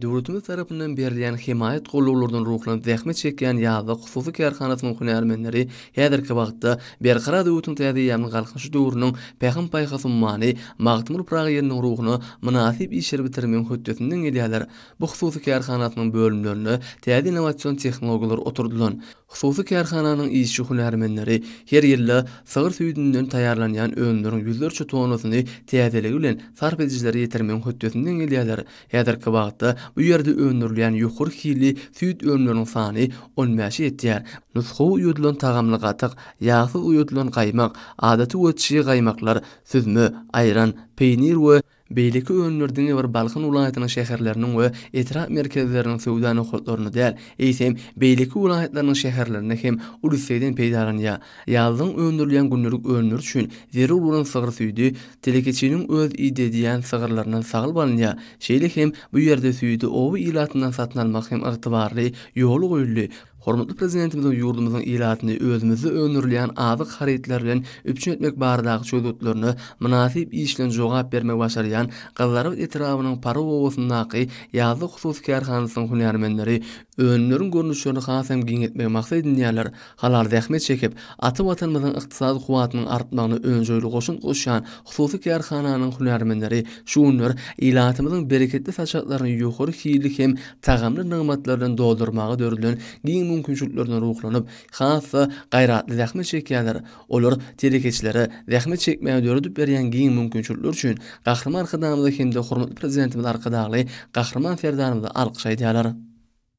Döwletimiz tarapyndan berilýän hemaýat gollaglardan ruhlanyp zähmet çekýän Ýazda hususy kärhanasynyň hünärmenleri häzirki wagtda Berkarar döwletiň täze eýýamynyň Galkynyşy döwrüniň Pähim-paýhas ummany Magtymguly Pyragy ýylynyň ruhuna mynasyp işleri bitirmegiň hötdesinden gelýärler. Bu hususy kärhanasynyň bölümlerinde täze innowasion tehnologiýalar oturdylan Hususy kärhananyň işçi-hünärmenleri her ýylda sygyr süýdünden taýýarlanýan önümleriň ýüzlerçe tonnasyny täzeligi bilen sarp edijilere ýetirmegiň hötdesinden gelýärler. Häzirki wagtda bu ýerde öndürilýän ýokary hilli süýt önümleriniň sany on bäşe ýetýär. Nusgawy uýudylan tagamly gatyk, ýagsyz uýudylan gaýmak, adaty we çyg gaýmaklar, süzme, aýran, peýnir we. Beýleki önümler diňe bir Balkan welaýatynyň şäherleriniň we etrap merkezleriniň söwda nokatlarynda däl, eýsem, beýleki welaýatlarynyň şäherlerinde hem uly islegden peýdalanýar. Ýazlaryň öndürilýän gündelik önümleri üçin zerur bolan sygyr süýdi telekeçiniň öz idedýän sygyrlaryndan salyp alynýar. Şeýle hem bu ýerde süýdi oba ilatyndan satyn almak hem ygtybarly ýoly goýuldy. Hormatly Prezidentimiziň ýurdumyzyň ilatyny özümizde öndürilýän azyk harytlary bilen üpjün etmek baradaky çözgütlerine mynasyp iş bilen jogap bermegi başarýan Gyzlarbat etrabynyň Pary obasyndaky Ýazda hususy kärhanasynyň hünärmenleri önümleriň görnüşlerini has hem giňeltmegi maksat edinýärler, halal zähmet çekip, ata Watanymyzyň ykdysady kuwwatynyň artmagyna önjeýli goşant goşýan hususy kärhananyň hünärmenleri şu günler ilatymyzyň bereketli saçaklaryny ýokary hilli hem tagamly nygmatlar bilen doldurmaga döredilen giň mümkinçiliklerine ruhlanyp, has-da gaýratly zähmet çekýärler. Olar telekeçilere zähmet çekmäge döredip berýän giň mümkinçilikler üçin Gahryman Arkadagymyza hem-de hormatly Prezidentimiz Arkadagly Gahryman Serdarymyza alkyş aýdýarlar.